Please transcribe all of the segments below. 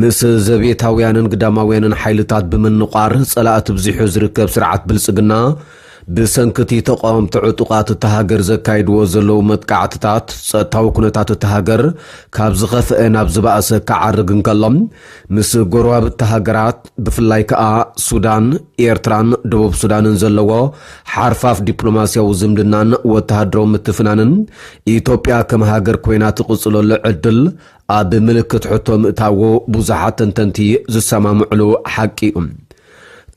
ምስ ዘቤታውያንን ግዳማውያንን ሓይልታት ብምንቛር ጸላእቲ ብዚሑ ዝርከብ ስርዓት ብልጽግና፣ ብሰንኪ'ቲ ተቓወምቲ ዕጡቓት እታ ሃገር ዘካይድዎ ዘለዉ መጥቃዕትታት፣ ጸጥታዊ ኩነታት እታ ሃገር ካብ ዝኸፍኤ ናብ ዝበኣሰ ክዓርግ እንከሎ፣ ምስ ጎረባብቲ ሃገራት ብፍላይ ከኣ ሱዳን፣ ኤርትራን ደቡብ ሱዳንን ዘለዎ ሓርፋፍ ዲፕሎማስያዊ ዝምድናን ወተሃደራዊ ምትፍናንን፣ ኢትዮጵያ ከም ሃገር ኮይና ትቕጽለሉ ዕድል ኣብ ምልክት ሕቶ ምእታዎ ብዙሓት ተንተንቲ ዝሰማምዕሉ ሓቂ እዩ።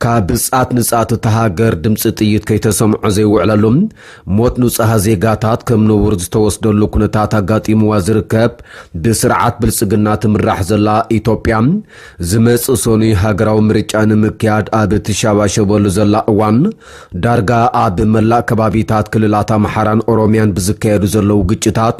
ካብ ጻት ንጻት እታ ሃገር ድምፂ ጥይት ከይተሰምዖ ዘይውዕለሉ፣ ሞት ንፁሃ ዜጋታት ከም ነውር ዝተወስደሉ ኩነታት ኣጋጢምዋ ዝርከብ ብስርዓት ብልፅግና ትምራሕ ዘላ ኢትዮጵያ ዝመፅእ ሰኑይ ሃገራዊ ምርጫ ንምክያድ ኣብ እትሸባሸበሉ ዘላ እዋን ዳርጋ ኣብ መላእ ከባቢታት ክልላት ኣምሓራን ኦሮሚያን ብዝካየዱ ዘለዉ ግጭታት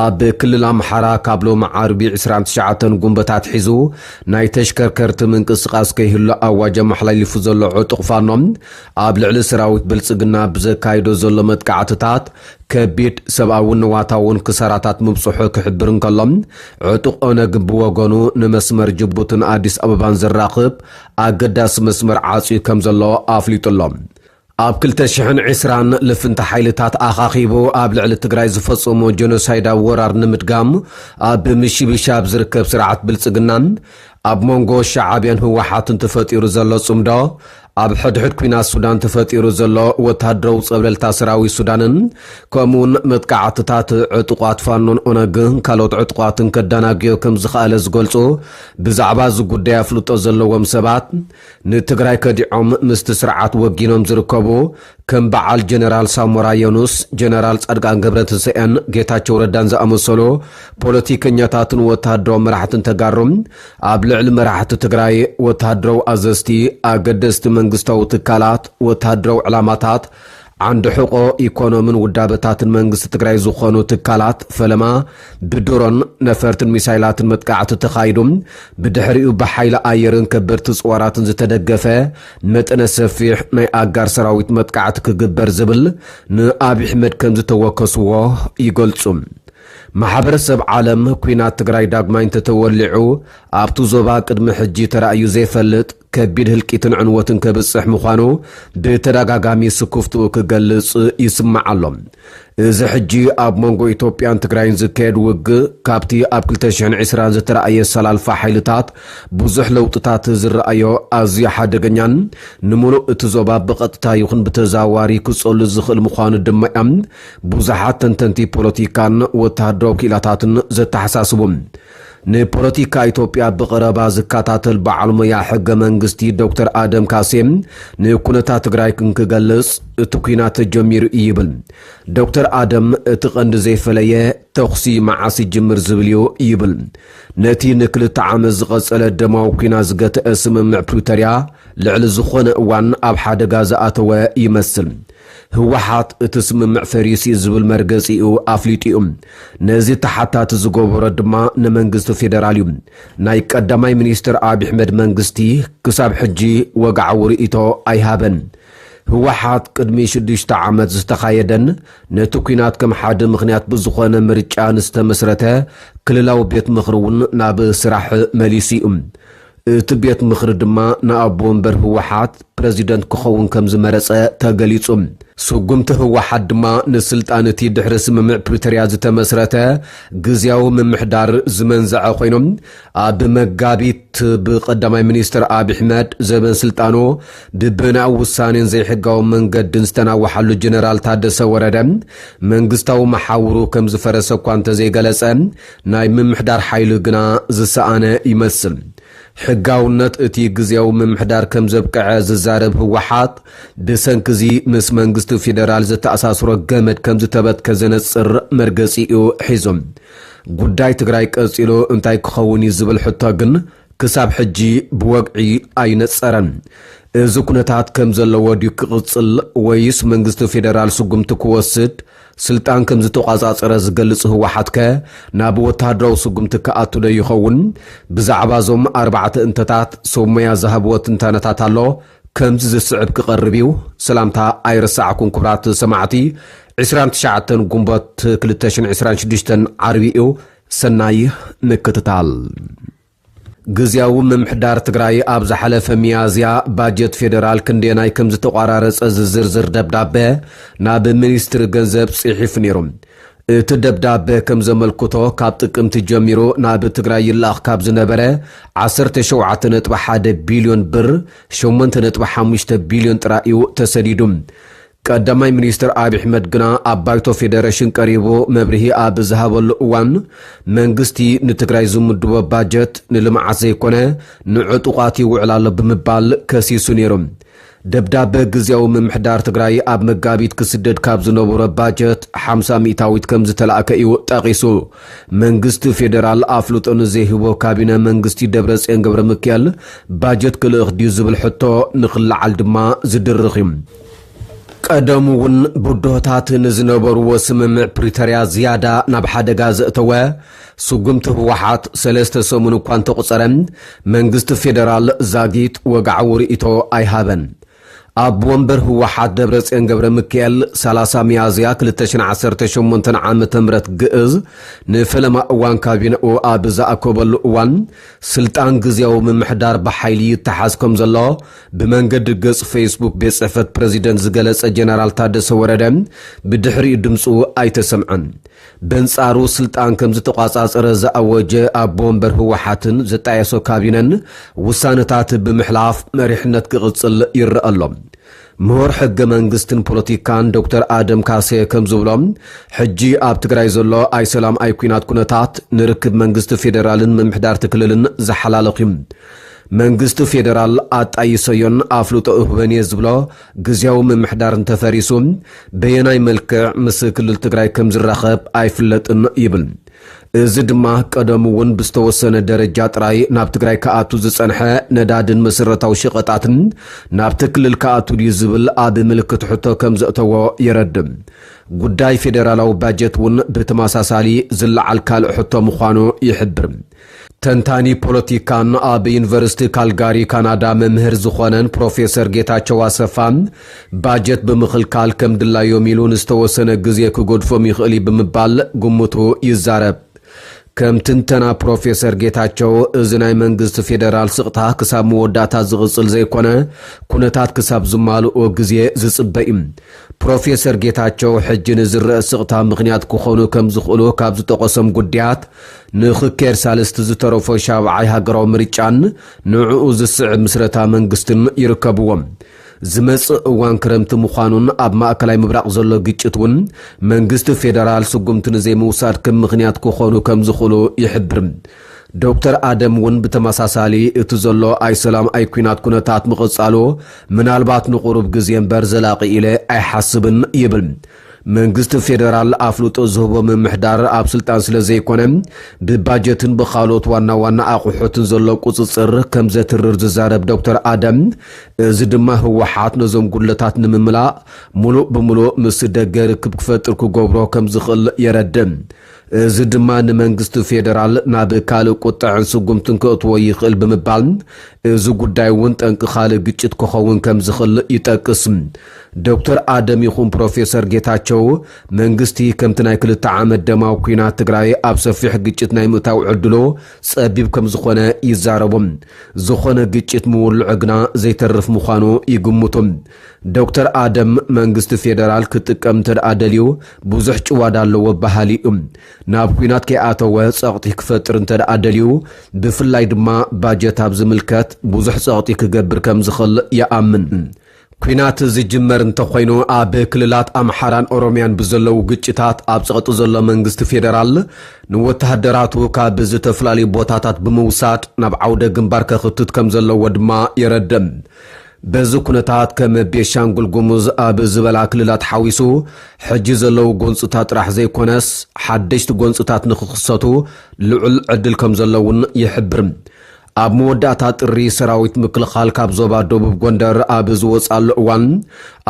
ኣብ ክልል ኣምሓራ ካብ ሎሚ ዓርቢ ዕስራን ትሽዓተን ጉንበት ኣትሒዙ ናይ ተሽከርከርቲ ምንቅስቓስ ከይህሉ ኣዋጅ ኣመሓላሊፉ ዘሎ ዕጡቕ ፋኖ ኣብ ልዕሊ ሰራዊት ብልፅግና ብዘካይዶ ዘሎ መጥቃዕትታት ከቢድ ሰብኣውን ንዋታውን ክሳራታት ምብፅሑ ክሕብር እንከሎ ዕጡቕ ኦነግ ብወገኑ ንመስመር ጅቡትን ኣዲስ ኣበባን ዘራኽብ ኣገዳሲ መስመር ዓፅዩ ከም ዘሎ ኣፍሊጡ ኣሎ። ኣብ ክልተ ሽሕን ዕስራን ልፍንቲ ሓይልታት ኣኻኺቡ ኣብ ልዕሊ ትግራይ ዝፈጸሞ ጀኖሳይዳዊ ወራር ንምድጋም ኣብ ምሽብሻብ ዝርከብ ስርዓት ብልጽግናን ኣብ መንጎ ሸዓብያን ህወሓትን ተፈጢሩ ዘሎ ጽምዶ ኣብ ሕድሕድ ኩናት ሱዳን ተፈጢሩ ዘሎ ወታደራዊ ጸብለልታ ሰራዊት ሱዳንን ከምኡውን መጥቃዕትታት ዕጡቋት ፋኖን ኦነግን ካልኦት ዕጡቋትን ከዳናግዮ ከም ዝኸኣለ ዝገልጹ ብዛዕባ እዚ ጉዳይ ኣፍልጦ ዘለዎም ሰባት ንትግራይ ከዲዖም ምስቲ ስርዓት ወጊኖም ዝርከቡ ከም በዓል ጀነራል ሳሞራ የኑስ፣ ጀነራል ፃድቃን ገብረትንሳኤን ጌታቸው ረዳን ዝኣመሰሉ ፖለቲከኛታትን ወታሃደራዊ መራሕትን ተጋሩ ኣብ ልዕሊ መራሕቲ ትግራይ፣ ወታሃደራዊ ኣዘዝቲ፣ ኣገደስቲ መንግስታዊ ትካላት፣ ወታሃደራዊ ዕላማታት፣ ዓንዲ ሕቆ ኢኮኖምን ውዳበታትን መንግስቲ ትግራይ ዝኾኑ ትካላት ፈለማ ብድሮን፣ ነፈርትን ሚሳይላትን መጥቃዕቲ ተኻይዱ ብድሕሪኡ ብሓይሊ ኣየርን ከበድቲ ፅዋራትን ዝተደገፈ መጠነ ሰፊሕ ናይ ኣጋር ሰራዊት መጥቃዕቲ ክግበር ዝብል ንኣብይ ኣሕመድ ከምዝተወከስዎ ይገልፁ። ማሕበረሰብ ዓለም ኲናት ትግራይ ዳግማይ እንተተወሊዑ ኣብቱ ዞባ ቅድሚ ሕጂ ተራእዩ ዘይፈልጥ ከቢድ ህልቂትን ዕንወትን ከብጽሕ ምዃኑ ብተደጋጋሚ ስኩፍትኡ ክገልጽ ይስማዕ ኣሎ። እዚ ሕጂ ኣብ መንጎ ኢትዮጵያን ትግራይን ዝካየድ ውግእ ካብቲ ኣብ ክልተ ሽሕን ዕስራን ዝተራእየ ኣሰላልፋ ሓይልታት ብዙሕ ለውጥታት ዝረኣዮ ኣዝዩ ሓደገኛን ንምሉእ እቲ ዞባ ብቐጥታ ይኹን ብተዘዋዋሪ ክጸሉ ዝኽእል ምዃኑ ድማ'ዮም ብዙሓት ተንተንቲ ፖለቲካን ወተሃደራዊ ክኢላታትን ዘተሓሳስቡ። ንፖለቲካ ኢትዮጵያ ብቐረባ ዝከታተል በዓል ሞያ ሕገ መንግስቲ ዶክተር ኣደም ካሴ ንኩነታት ትግራይ እንክገልፅ እቲ ኲናት ተጀሚሩ እዩ ይብል። ዶክተር ኣደም እቲ ቀንዲ ዘይፈለየ ተኹሲ መዓስ ይጅምር ዝብል እዩ ይብል። ነቲ ንክልተ ዓመት ዝቐፀለ ደማዊ ኲናት ዝገተአ ስምምዕ ፕሪቶርያ ልዕሊ ዝኾነ እዋን ኣብ ሓደጋ ዝኣተወ ይመስል። ህወሓት እቲ ስምምዕ ፈሪሱ እዩ ዝብል መርገፂኡ ኣፍሊጡ እዩ። ነዚ ተሓታቲ ዝገበሮ ድማ ንመንግስቲ ፌደራል እዩ። ናይ ቀዳማይ ሚኒስትር ኣብይ ኣሕመድ መንግስቲ ክሳብ ሕጂ ወግዓዊ ርእይቶ ኣይሃበን። ህወሓት ቅድሚ ሽዱሽተ ዓመት ዝተኻየደን ነቲ ኲናት ከም ሓደ ምኽንያት ብዝኾነ ምርጫ ንዝተመስረተ ክልላዊ ቤት ምኽሪ እውን ናብ ስራሕ መሊሱ እዩ። እቲ ቤት ምኽሪ ድማ ንኣቦ ወንበር ህወሓት ፕረዚደንት ክኸውን ከም ዝመረጸ ተገሊጹ። ስጉምቲ ህወሓት ድማ ንስልጣን እቲ ድሕሪ ስምምዕ ፕሪቶርያ ዝተመስረተ ግዝያዊ ምምሕዳር ዝመንዘዐ ኮይኑ፣ ኣብ መጋቢት ብቀዳማይ ሚኒስትር ኣብዪ ኣሕመድ ዘበን ስልጣኑ ብበናዊ ውሳኔን ዘይሕጋዊ መንገድን ዝተናወሓሉ ጀነራል ታደሰ ወረደ መንግስታዊ መሓውሩ ከም ዝፈረሰ እኳ እንተዘይገለጸ ናይ ምምሕዳር ሓይሊ ግና ዝሰኣነ ይመስል። ሕጋውነት እቲ ግዝያዊ ምምሕዳር ከምዘብቀዐ ዝዛረብ ህወሓት፣ ብሰንኪ'ዚ ምስ መንግስቲ ፌደራል ዘተኣሳስሮ ገመድ ከምዝተበትከ ዘነጽር መርገጺ'ዩ ሒዙ። ጉዳይ ትግራይ ቀጺሉ እንታይ ክኸውን'ዩ ዝብል ሕቶ ግን ክሳብ ሕጂ ብወግዒ ኣይነጸረን። እዚ ኩነታት ከም ዘለዎ ድዩ ክቕጽል ወይስ መንግስቲ ፌደራል ስጉምቲ ክወስድ ስልጣን ከም ዝተቖጻጸረ ዝገልጽ ህወሓትከ ናብ ወተሃደራዊ ስጉምቲ ክኣቱዶ ይኸውን? ብዛዕባ እዞም ኣርባዕተ እንተታት ሰብ ሞያ ዝሃብዎ ትንታነታት ኣሎ። ከምዚ ዝስዕብ ክቐርብ እዩ። ሰላምታ ኣይረሳዕኩን ክቡራት ሰማዕቲ ዕስራን ትሽዓተን ጉንቦት ክልተ ሽሕን ዕስራን ሽዱሽተን ዓርቢ እዩ። ሰናይ ምክትታል። ግዝያዊ ምምሕዳር ትግራይ ኣብ ዝሓለፈ ሚያዝያ ባጀት ፌደራል ክንደየናይ ከምዝተቋራረፀ ዝዝርዝር ደብዳበ ናብ ሚኒስትሪ ገንዘብ ፅሒፉ ነይሩ። እቲ ደብዳበ ከምዘመልክቶ ካብ ጥቅምቲ ጀሚሩ ናብ ትግራይ ይልኣኽ ካብ ዝነበረ ዓሰርተ ሸውዓተ ነጥቢ ሓደ ቢልዮን ብር ሸሞንተ ነጥቢ ሓሙሽተ ቢልዮን ጥራይ እዩ ተሰዲዱ። ቀዳማይ ሚኒስትር ኣብዪ ኣሕመድ ግና ኣብ ባይቶ ፌደሬሽን ቀሪቡ መብርሂ ኣብ ዝሃበሉ እዋን መንግስቲ ንትግራይ ዝምድቦ ባጀት ንልምዓት ዘይኮነ ንዕጡቓት ይውዕል ኣሎ ብምባል ከሲሱ ነይሩ። ደብዳበ ግዝያዊ ምምሕዳር ትግራይ ኣብ መጋቢት ክስደድ ካብ ዝነበሮ ባጀት ሓምሳ ሚእታዊት ከምዝተላእከ እዩ ጠቒሱ። መንግስቲ ፌደራል ኣፍልጦ ንዘይህቦ ካቢነ መንግስቲ ደብረፅዮን ገብረሚካኤል ባጀት ክልእኽ ድዩ ዝብል ሕቶ ንክለዓል ድማ ዝድርኽ እዩ። ቀደሙ እውን ብድሆታት ንዝነበርዎ ስምምዕ ፕሪተርያ ዝያዳ ናብ ሓደጋ ዘእተወ ስጉምቲ ህወሓት ሰለስተ ሰሙን እኳ እንተቑፀረ መንግስቲ ፌደራል ዛጊት ወግዓዊ ርኢቶ ኣይሃበን። ኣቦ ወንበር ህወሓት ደብረፅዮን ገብረሚካኤል ሰላሳ ሚያዝያ ክልተ ሽሕን ዓሰርተ ሸሞንተን ዓመተ ምህረት ግእዝ ንፈለማ እዋን ካቢነኡ ኣብ ዝኣከበሉ እዋን ስልጣን ግዝያዊ ምምሕዳር ብሓይሊ ይተሓዝ ከምዘሎ ብመንገዲ ገፅ ፌስቡክ ቤት ፅሕፈት ፕረዚደንት ዝገለፀ ጀነራል ታደሰ ወረደ ብድሕሪኡ ድምፁ ኣይተሰምዐን። በንፃሩ ስልጣን ከምዝተቋፃፀረ ዝኣወጀ ኣቦ ወንበር ህወሓትን ዘጣየሶ ካቢነን ውሳነታት ብምሕላፍ መሪሕነት ክቕፅል ይረኣ ኣሎ። ምሁር ሕገ መንግስትን ፖለቲካን ዶክተር ኣደም ካሴ ከም ዝብሎ ሕጂ ኣብ ትግራይ ዘሎ ኣይሰላም ኣይኲናት ኩነታት ንርክብ መንግስቲ ፌደራልን ምምሕዳርቲ ክልልን ዝሓላለኽ እዩ። መንግስቲ ፌደራል ኣጣይሰዮን ኣፍልጦ እህበን እየ ዝብሎ ግዝያዊ ምምሕዳር እንተፈሪሱ በየናይ መልክዕ ምስ ክልል ትግራይ ከም ዝራኸብ ኣይፍለጥን ይብል። እዚ ድማ ቀደሙ እውን ብዝተወሰነ ደረጃ ጥራይ ናብ ትግራይ ክኣቱ ዝጸንሐ ነዳድን መሰረታዊ ሸቐጣትን ናብቲ ክልል ክኣቱ ድዩ ዝብል ኣብ ምልክት ሕቶ ከም ዘእተዎ የረድእ። ጉዳይ ፌደራላዊ ባጀት እውን ብተመሳሳሊ ዝለዓል ካልእ ሕቶ ምዃኑ ይሕብር። ተንታኒ ፖለቲካን ኣብ ዩኒቨርሲቲ ካልጋሪ ካናዳ መምህር ዝኾነን ፕሮፌሰር ጌታቸው ኣሰፋ፣ ባጀት ብምኽልካል ከም ድላዮም ኢሉ ንዝተወሰነ ግዜ ክገድፎም ይኽእል እዩ ብምባል ግምቱ ይዛረብ። ከም ትንተና ፕሮፌሰር ጌታቸው፣ እዚ ናይ መንግስቲ ፌደራል ስቕታ ክሳብ መወዳእታ ዝቕፅል ዘይኮነ ኩነታት ክሳብ ዝማልኡ ግዜ ዝፅበ እዩ። ፕሮፌሰር ጌታቸው ሕጂ ንዝረእ ስቕታ ምኽንያት ክኾኑ ከም ዝኽእሉ ካብ ዝጠቐሶም ጉዳያት ንኽካየድ ሳልስቲ ዝተረፎ ሻብዓይ ሃገራዊ ምርጫን ንዕኡ ዝስዕብ ምስረታ መንግስትን ይርከብዎም። ዝመጽእ እዋን ክረምቲ ምዃኑን ኣብ ማእከላይ ምብራቕ ዘሎ ግጭት እውን መንግስቲ ፌደራል ስጉምቲ ንዘይምውሳድ ከም ምኽንያት ክኾኑ ከም ዝኽእሉ ይሕብር። ዶክተር ኣደም እውን ብተመሳሳሊ እቲ ዘሎ ኣይ ሰላም ኣይ ኲናት ኩነታት ምቕጻሉ ምናልባት ንቑሩብ ግዜ እምበር ዘላቒ ኢለ ኣይሓስብን ይብል። መንግስቲ ፌደራል ኣፍልጦ ዝህቦ ምምሕዳር ኣብ ስልጣን ስለዘይኮነ ብባጀትን ብኻልኦት ዋና ዋና ኣቑሑትን ዘሎ ቁፅፅር ከምዘትርር ዝዛረብ ዶክተር ኣደም እዚ ድማ ህወሓት ነዞም ጉድለታት ንምምላእ ሙሉእ ብሙሉእ ምስ ደገ ርክብ ክፈጥር ክገብሮ ከምዝኽእል የረድእ። እዚ ድማ ንመንግስቲ ፌደራል ናብ ካልእ ቁጠዐን ስጉምትን ከእትዎ ይኽእል ብምባል፣ እዚ ጉዳይ እውን ጠንቂ ካልእ ግጭት ክኸውን ከምዝኽል ይጠቅስ። ዶክተር ኣደም ይኹን ፕሮፌሰር ጌታቸው፣ መንግስቲ ከምቲ ናይ ክልተ ዓመት ደማዊ ኲናት ትግራይ ኣብ ሰፊሕ ግጭት ናይ ምእታው ዕድሉ ጸቢብ ከምዝኾነ ይዛረቡ። ዝኾነ ግጭት ምውልዑ ግና ዘይተርፍ ምዃኑ ይግምቱ። ዶክተር ኣደም፣ መንግስቲ ፌደራል ክጥቀም እንተድኣ ደልዩ ብዙሕ ጭዋዳ ኣለዎ በሃሊ እዩ። ናብ ኲናት ከይኣተወ ጸቕጢ ክፈጥር እንተድኣ ደልዩ፣ ብፍላይ ድማ ባጀት ኣብ ዝምልከት ብዙሕ ጸቕጢ ክገብር ከም ዝኽል ይኣምን። ኲናት ዝጅመር እንተኾይኑ፣ ኣብ ክልላት ኣምሓራን ኦሮምያን ብዘለዉ ግጭታት ኣብ ጸቕጢ ዘሎ መንግስቲ ፌደራል፣ ንወተሃደራቱ ካብ ዝተፈላለዩ ቦታታት ብምውሳድ ናብ ዓውደ ግንባር ከኽትት ከም ዘለዎ ድማ የረድእ። በዚ ኩነታት ከም ቤንሻንጉል ጉሙዝ ኣብ ዝበላ ክልላት ሓዊሱ ሕጂ ዘለዉ ጎንፅታት ጥራሕ ዘይኮነስ ሓደሽቲ ጎንፅታት ንክኽሰቱ ልዑል ዕድል ከምዘሎ እውን ይሕብር። ኣብ መወዳእታ ጥሪ ሰራዊት ምክልኻል ካብ ዞባ ደቡብ ጎንደር ኣብ ዝወፅኣሉ እዋን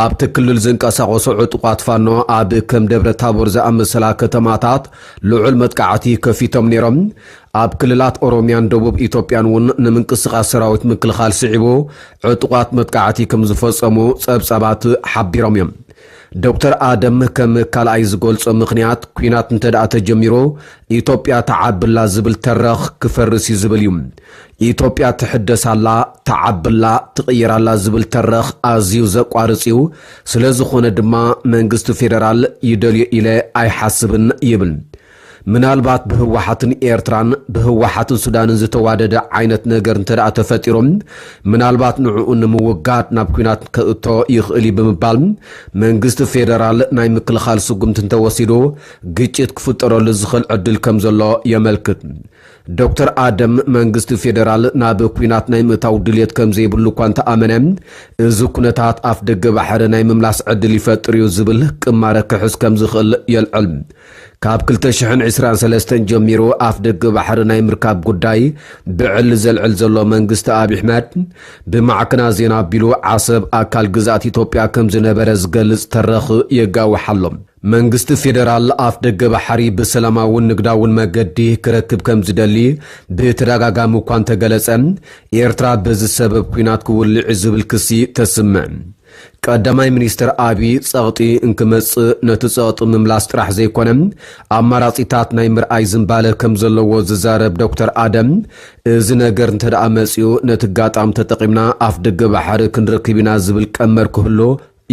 ኣብቲ ክልል ዝንቀሳቐሱ ዕጡቓት ፋኖ ኣብ ከም ደብረታቦር ዝኣመሰላ ከተማታት ልዑል መጥቃዕቲ ከፊቶም ነይሮም። ኣብ ክልላት ኦሮሚያን ደቡብ ኢትዮጵያን እውን ንምንቅስቓስ ሰራዊት ምክልኻል ስዒቡ ዕጡቓት መጥቃዕቲ ከምዝፈፀሙ ፀብፃባት ሓቢሮም እዮም። ዶክተር ኣደም ከም ካልኣይ ዝገልፆ ምኽንያት ኲናት እንተድኣ ተጀሚሩ ኢትዮጵያ ትዓቢ ኣላ ዝብል ተረኽ ክፈርስ እዩ ዝብል እዩ። ኢትዮጵያ ትሕደስ ኣላ፣ ትዓቢ ኣላ፣ ትቕየር ኣላ ዝብል ተረኽ ኣዝዩ ዘቋርፅ እዩ። ስለዝኾነ ድማ መንግስቲ ፌደራል ይደልዮ ኢለ ኣይሓስብን ይብል። ምናልባት ብህወሓትን ኤርትራን ብህወሓትን ሱዳንን ዝተዋደደ ዓይነት ነገር እንተድኣ ተፈጢሩ ምናልባት ንዕኡ ንምውጋድ ናብ ኲናት ከእቶ ይኽእል እዩ ብምባል መንግስቲ ፌደራል ናይ ምክልኻል ስጉምቲ እንተወሲዱ ግጭት ክፍጠረሉ ዝኽእል ዕድል ከም ዘሎ የመልክት። ዶክተር ኣደም መንግስቲ ፌደራል ናብ ኲናት ናይ ምእታው ድልየት ከም ዘይብሉ እኳ እንተኣመነ እዚ ኩነታት ኣፍደገ ባሕሪ ናይ ምምላስ ዕድል ይፈጥር እዩ ዝብል ቅማረ ክሕዝ ከም ዝኽእል የልዕል። ካብ ክልተ ሽሕን ዕስራን ሰለስተን ጀሚሩ ኣፍደገ ባሕሪ ናይ ምርካብ ጉዳይ ብዕሊ ዘልዕል ዘሎ መንግስቲ ኣብዪ ኣሕመድ፣ ብማዕከናት ዜና ኣቢሉ ዓሰብ ኣካል ግዝኣት ኢትዮጵያ ከም ዝነበረ ዝገልጽ ተረኽ የጋውሕ ኣሎ። መንግስቲ ፌደራል ኣፍደገ ባሕሪ ብሰላማውን ንግዳውን መገዲ ክረክብ ከም ዝደሊ ብተደጋጋሚ እኳ እንተገለጸ፣ ኤርትራ በዚ ሰበብ ኲናት ክውልዕ'ዩ ዝብል ክሲ ተስምዕ። ቀዳማይ ሚኒስትር ኣብዪ ፀቕጢ እንክመፅእ ነቲ ፀቕጢ ምምላስ ጥራሕ ዘይኮነ ኣማራፂታት ናይ ምርኣይ ዝንባለ ከምዘለዎ ዝዛረብ ዶክተር ኣደም እዚ ነገር እንተድኣ መፂኡ ነቲ ኣጋጣሚ ተጠቒምና ኣፍደገ ባሕሪ ክንረክብ ኢና ዝብል ቀመር ክህሉ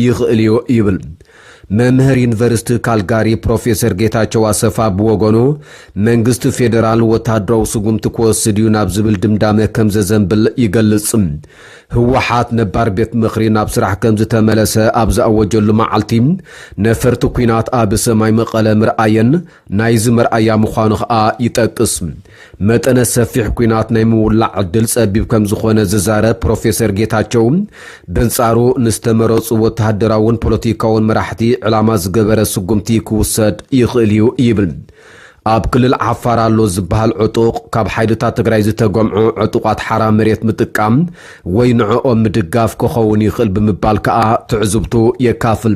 ይኽእል እዩ ይብል። መምህር ዩኒቨርሲቲ ካልጋሪ ፕሮፌሰር ጌታቸው ኣሰፋ ብወገኑ፣ መንግስቲ ፌደራል ወተሃደራዊ ስጉምቲ ክወስድ እዩ ናብ ዝብል ድምዳመ ከምዘዘንብል ይገልጽ። ህወሓት ነባር ቤት ምኽሪ ናብ ስራሕ ከምዝተመለሰ ኣብ ዝኣወጀሉ መዓልቲ፣ ነፈርቲ ኲናት ኣብ ሰማይ መቐለ ምርኣየን፣ ናይዚ መርኣያ ምዃኑ ከኣ ይጠቅስ። መጠነ ሰፊሕ ኲናት ናይ ምውላዕ ዕድል ጸቢብ ከም ዝኾነ ዝዛረብ ፕሮፌሰር ጌታቸው፣ በንጻሩ ንዝተመረጹ ወተሃደራውን ፖለቲካውን መራሕቲ ዕላማ ዝገበረ ስጉምቲ ክውሰድ ይኽእል'ዩ ይብል። ኣብ ክልል ዓፋር ኣሎ ዝበሃል ዕጡቕ፣ ካብ ሓይልታት ትግራይ ዝተገምዑ ዕጡቓት ሓራ መሬት ምጥቃም ወይ ንዕኦም ምድጋፍ ክኸውን ይኽእል ብምባል ከኣ ትዕዝብቱ የካፍል።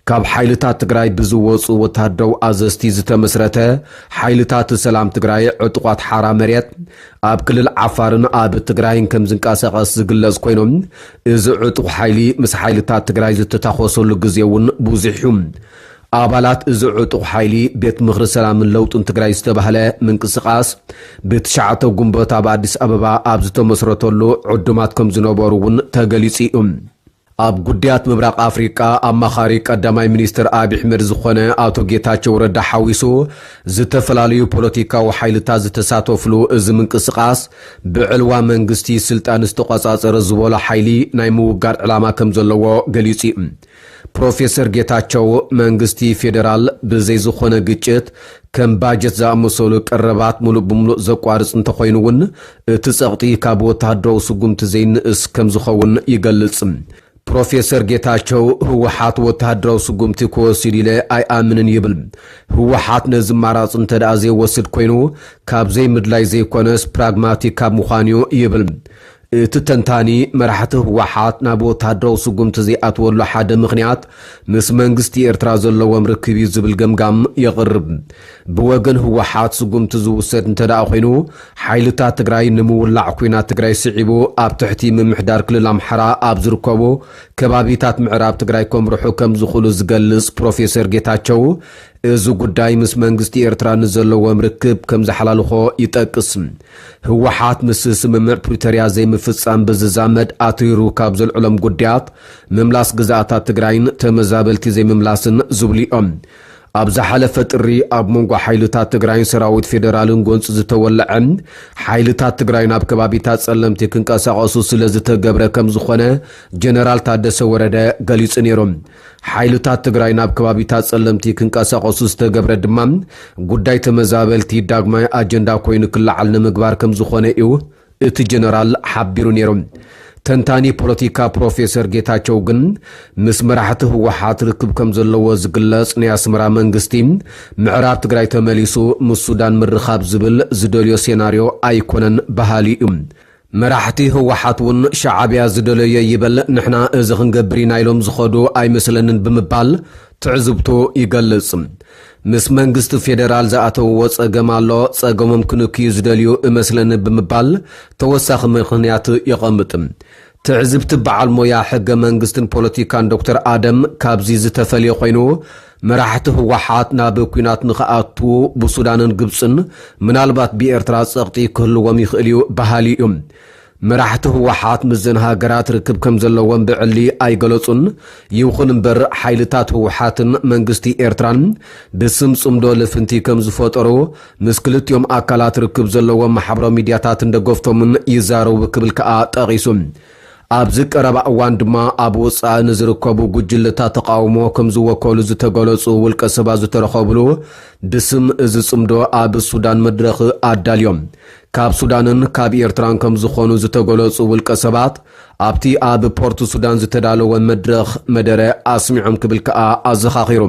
ካብ ሓይልታት ትግራይ ብዝወፁ ወታሃደራዊ ኣዘዝቲ ዝተመስረተ ሓይልታት ሰላም ትግራይ ዕጡቋት ሓራ መሬት ኣብ ክልል ዓፋርን ኣብ ትግራይን ከም ዝንቀሳቐስ ዝግለፅ ኮይኑ እዚ ዕጡቕ ሓይሊ ምስ ሓይልታት ትግራይ ዝተታኾሰሉ ግዜ እውን ብዙሕ እዩ። ኣባላት እዚ ዕጡቕ ሓይሊ ቤት ምኽሪ ሰላምን ለውጥን ትግራይ ዝተባህለ ምንቅስቓስ ብትሽዓተ ጉንበት ኣብ ኣዲስ ኣበባ ኣብ ዝተመስረተሉ ዕዱማት ከም ዝነበሩ እውን ተገሊፁ እዩ። ኣብ ጉዳያት ምብራቕ ኣፍሪቃ ኣማኻሪ ቀዳማይ ሚኒስትር ኣብይሕመድ ዝኾነ ኣቶ ጌታቸው ረዳ ሓዊሱ ዝተፈላለዩ ፖለቲካዊ ሓይልታት ዝተሳተፍሉ እዚ ምንቅስቓስ ብዕልዋ መንግስቲ ስልጣን ዝተቖፃፀረ ዝበሎ ሓይሊ ናይ ምውጋድ ዕላማ ከምዘለዎ ገሊፁ እዩ። ፕሮፌሰር ጌታቸው መንግስቲ ፌዴራል ብዘይ ዝኾነ ግጭት ከም ባጀት ዝኣመሰሉ ቀረባት ምሉእ ብምሉእ ዘቋርጽ እንተኾይኑ'ውን፣ እቲ ጸቕጢ ካብ ወተሃደራዊ ስጉምቲ ዘይንእስ ከምዝኸውን ይገልጽ። ፕሮፌሰር ጌታቸው፣ ህወሓት ወተሃደራዊ ስጉምቲ ክወስድ ኢለ ኣይኣምንን ይብል። ህወሓት ነዚ ኣማራጺ እንተድኣ ዘይወስድ ኮይኑ፣ ካብ ዘይምድላይ ዘይኮነስ ፕራግማቲክ ካብ ምዃን'ዩ ይብል። እቲ ተንታኒ፣ መራሕቲ ህወሓት ናብ ወተሃደራዊ ስጉምቲ ዘይኣትወሉ ሓደ ምኽንያት ምስ መንግስቲ ኤርትራ ዘለዎም ርክብ'ዩ ዝብል ገምጋም የቕርብ። ብወገን ህወሓት ስጉምቲ ዝውሰድ እንተድኣ ኮይኑ፣ ሓይልታት ትግራይ ንምውላዕ ኲናት ትግራይ ስዒቡ ኣብ ትሕቲ ምምሕዳር ክልል ኣምሓራ ኣብ ዝርከቡ ከባቢታት ምዕራብ ትግራይ ከምርሑ ከምዝኽእሉ ዝገልጽ ፕሮፌሰር ጌታቸው፣ እዚ ጉዳይ ምስ መንግስቲ ኤርትራ ንዘለዎም ርክብ ከም ዝሓላልኾ ይጠቅስ። ህወሓት ምስ ስምምዕ ፕሪቶርያ ዘይምፍጻም ብዝዛመድ ኣትሪሩ ካብ ዘልዕሎም ጉዳያት ምምላስ ግዝኣታት ትግራይን ተመዛበልቲ ዘይምምላስን ዝብሉ'ዮም። ኣብ ዝሓለፈ ጥሪ ኣብ መንጎ ሓይልታት ትግራይን ሰራዊት ፌደራልን ጎንጺ ዝተወለዐ፣ ሓይልታት ትግራይ ናብ ከባቢታት ጸለምቲ ክንቀሳቐሱ ስለዝተገብረ ከምዝኾነ ጀነራል ታደሰ ወረደ ገሊጹ ነይሩ። ሓይልታት ትግራይ ናብ ከባቢታት ፀለምቲ ክንቀሳቐሱ ዝተገብረ ድማ ጉዳይ ተመዛበልቲ ዳግማይ ኣጀንዳ ኮይኑ ክለዓል ንምግባር ከምዝኾነ እዩ እቲ ጀነራል ሓቢሩ ነይሩ። ተንታኒ ፖለቲካ ፕሮፌሰር ጌታቸው ግን ምስ መራሕቲ ህወሓት ርክብ ከምዘለዎ ዝግለፅ ናይ ኣስመራ መንግስቲ ምዕራብ ትግራይ ተመሊሱ ምስ ሱዳን ምርኻብ ዝብል ዝደልዮ ሴናርዮ ኣይኮነን በሃሊ እዩ። መራሕቲ ህወሓት ውን ሻዓብያ ዝደለዮ ይበል ንሕና እዚ ክንገብር ኢና ኢሎም ዝኸዱ ኣይመስለንን ብምባል ትዕዝብቱ ይገልፅ። ምስ መንግስቲ ፌደራል ዝኣተውዎ ፀገም ኣሎ፣ ፀገሞም ክንክዩ ዝደልዩ እመስለኒ ብምባል ተወሳኺ ምኽንያት የቐምጥ። ትዕዝብቲ በዓል ሞያ ሕገ መንግስትን ፖለቲካን ዶክተር ኣደም ካብዚ ዝተፈልየ ኮይኑ፣ መራሕቲ ህወሓት ናብ ኲናት ንኽኣትዉ ብሱዳንን ግብጽን ምናልባት ብኤርትራ ጸቕጢ ክህልዎም ይኽእል'ዩ በሃሊ'ዩ። መራሕቲ ህወሓት ምስዘን ሃገራት ርክብ ከምዘለዎም ብዕሊ ኣይገለጹን። ይኹን'ምበር ሓይልታት ህወሓትን መንግስቲ ኤርትራን ብስም ጽምዶ ልፍንቲ ከምዝፈጠሩ ምስ ክልቲኦም ኣካላት ርክብ ዘለዎም ማሕበራዊ ሚድያታትን ደገፍቶምን ይዛረቡ ክብል ከኣ ጠቒሱ። ኣብዚ ቀረባ እዋን ድማ ኣብ ወፃኢ ንዝርከቡ ጉጅለታት ተቓውሞ ከምዝወከሉ ዝተገለፁ ውልቀ ሰባት ዝተረኸብሉ ብስም እዚ ፅምዶ ኣብ ሱዳን መድረኽ ኣዳልዮም ካብ ሱዳንን ካብ ኤርትራን ከምዝኾኑ ዝተገለፁ ውልቀ ሰባት ኣብቲ ኣብ ፖርት ሱዳን ዝተዳለወ መድረኽ መደረ ኣስሚዖም ክብል ከዓ ኣዘኻኺሩ።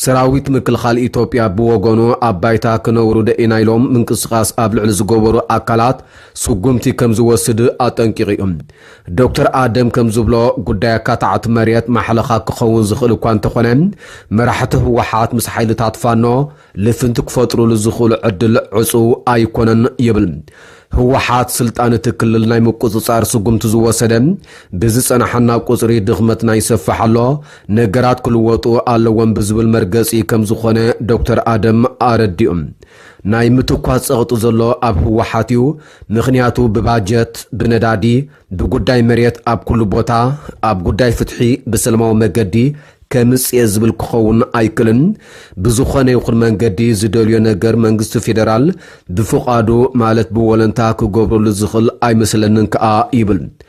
ሰራዊት ምክልኻል ኢትዮጵያ ብወገኑ ኣብ ባይታ ክነውርዶ ኢና ኢሎም ምንቅስቓስ ኣብ ልዕሊ ዝገበሩ ኣካላት ስጉምቲ ከም ዝወስድ ኣጠንቂቑ እዩ። ዶክተር ኣደም ከም ዝብሎ፣ ጉዳይ ኣካታዕቲ መሬት ማሕለኻ ክኸውን ዝኽእል እኳ እንተኾነ፣ መራሕቲ ህወሓት ምስ ሓይልታት ፋኖ ልፍንቲ ክፈጥሩሉ ዝኽእሉ ዕድል ዕፁው ኣይኮነን ይብል። ህወሓት ስልጣን እቲ ክልል ናይ ምቁፅፃር ስጉምቲ ዝወሰደ ብዝፀናሓና ቁፅሪ ድኽመትና ይሰፍሕ ኣሎ፣ ነገራት ክልወጡ ኣለዎም ብዝብል መርገፂ ከም ዝኾነ ዶክተር ኣደም ኣረዲኡ። ናይ ምትኳስ ጸቕጢ ዘሎ ኣብ ህወሓት ዩ ምኽንያቱ ብባጀት ብነዳዲ ብጉዳይ መሬት ኣብ ኩሉ ቦታ ኣብ ጉዳይ ፍትሒ ብሰለማዊ መገዲ ከምጽኤ ዝብል ክኸውን ኣይክልን ብዝኾነ ይኹን መንገዲ ዝደልዮ ነገር መንግስቲ ፌደራል ብፍቓዱ ማለት ብወለንታ ክገብረሉ ዝኽል ኣይመስለንን ከኣ ይብል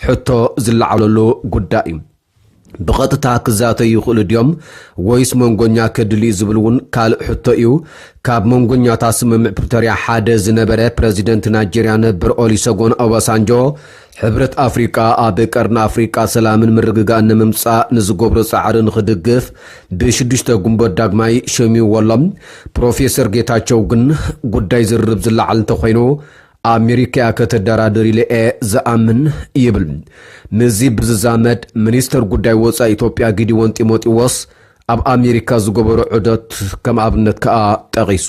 ሕቶ ዝለዓለሉ ጉዳይ እዩ። ብቐጥታ ክዛተዩ ይኽእሉ ድዮም ወይስ መንጎኛ ከድሊ'ዩ ዝብል እውን ካልእ ሕቶ እዩ። ካብ መንጎኛታት ስምምዕ ፕሪቶርያ ሓደ ዝነበረ ፕረዚደንት ናይጀርያ ነበር ኦሊሰጎን ኦባሳንጆ፣ ሕብረት ኣፍሪቃ ኣብ ቀርኒ ኣፍሪቃ ሰላምን ምርግጋእን ንምምጻእ ንዝገብሮ ጻዕሪ ንኽድግፍ ብ ሽዱሽተ ግንቦት ዳግማይ ሸሚምዎ ኣሎ። ፕሮፌሰር ጌታቸው ግን ጉዳይ ዝርርብ ዝለዓል እንተኾይኑ ኣሜሪካ እያ ከተደራድር ኢለ እየ ዝኣምን ይብል። ምስዚ ብዝዛመድ ሚኒስተር ጉዳይ ወፃኢ ኢትዮጵያ ጊዲዎን ጢሞጢዎስ ኣብ ኣሜሪካ ዝገበሮ ዑደት ከም ኣብነት ከኣ ጠቒሱ።